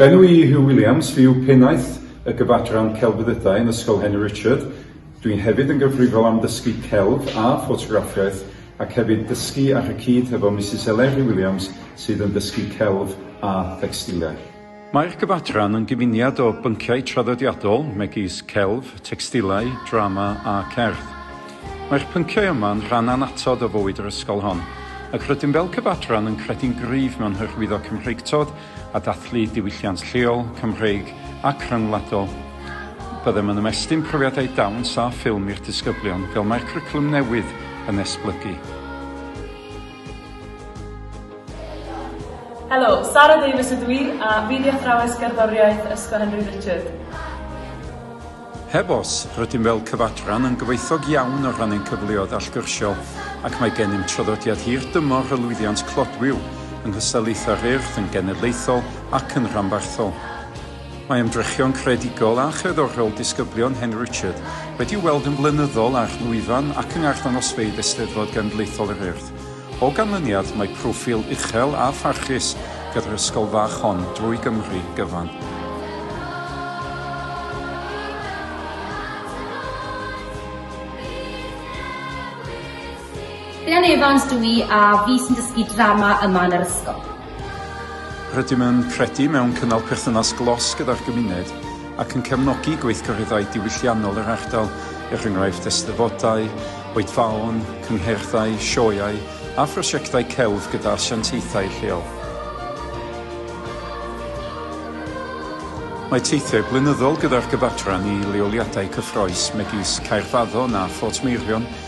Enw i yw Huw Williams, fi yw Pennaeth y Gyfadran Celfyddydau yn Ysgol Henry Richard. Dwi'n hefyd yn gyfrifol am ddysgu celf a ffotograffiaeth ac hefyd dysgu ar y cyd hefo Misus Eleri Williams sydd yn dysgu celf a thecstiliau. Mae'r gyfadran yn gyfuniad o bynciau traddodiadol, megis celf, tecstilau, drama a cerdd. Mae'r pynciau yma yn rhan annatod o fywyd yr ysgol hon, ac rydym fel cyfadran yn credu'n gryf mewn hyrwyddo Cymreictod a dathlu diwylliant lleol, Cymreig ac rhyngwladol. Byddem yn ymestyn profiadau dawns a ffilm i'r disgyblion, fel mae'r cwricwlwm newydd yn esblygu. Helo, Sara Davies ydw i a fi di athrawes gerddoriaeth Ysgol Henry Richard. Heb os, rydym fel cyfadran yn gyfoethog iawn o ran ein cyfleoedd allgyrsiol ac mae gennym traddodiad hir dymor o lwyddiant clodwiw yng nghystadlaethau'r Urdd yn genedlaethol ac yn rhanbarthol. Mae ymdrechion creadigol a cherddorol disgyblion Hen Richard wedi'u weld yn flynyddol ar lwyfan ac yng ngarddangosfeydd Eisteddfod Genedlaethol yr Urdd. O ganlyniad, mae proffil uchel a pharchus gyda'r ysgol fach hon drwy Gymru gyfan. Rhian Evans dw i a fi sy'n dysgu drama yma yn yr ysgol. Rydym yn credu mewn cynnal perthynas glos gyda'r gymuned ac yn cefnogi gweithgareddau diwylliannol yr ardal, er enghraifft eisteddfodau, oedfaon, cynghrairddau, sioeau a phrosiectau celf gyda asiantaethau lleol. Mae teithiau blynyddol gyda'r Gyfadran i leoliadau cyffrous megis Caerfaddon a Phortmeirion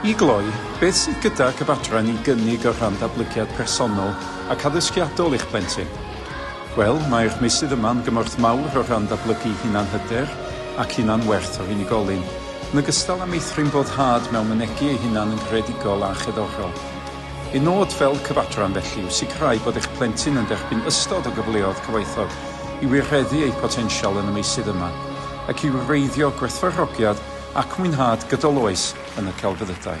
I gloi, beth sydd gydag y fadran i gynnig o rhan datblygiad personol ac addysgiadol i'ch plentyn? Wel, mae'r meysydd yma yn gymorth mawr o rhan datblygu hunanhyder ac hunanwerth o unigolyn, yn ogystal â meithrin boddhad mewn mynegi ei hunan yn greadigol a cherddorol. Ein nod fel cyfadran, felly, yw sicrhau bod eich plentyn yn derbyn ystod o gyfleodd cyfoethog i wireddu eu potensial yn y meysydd yma. ac i wreiddio gwerthfawrogiad ac mwynhad gydol oes yn y celfyddydau.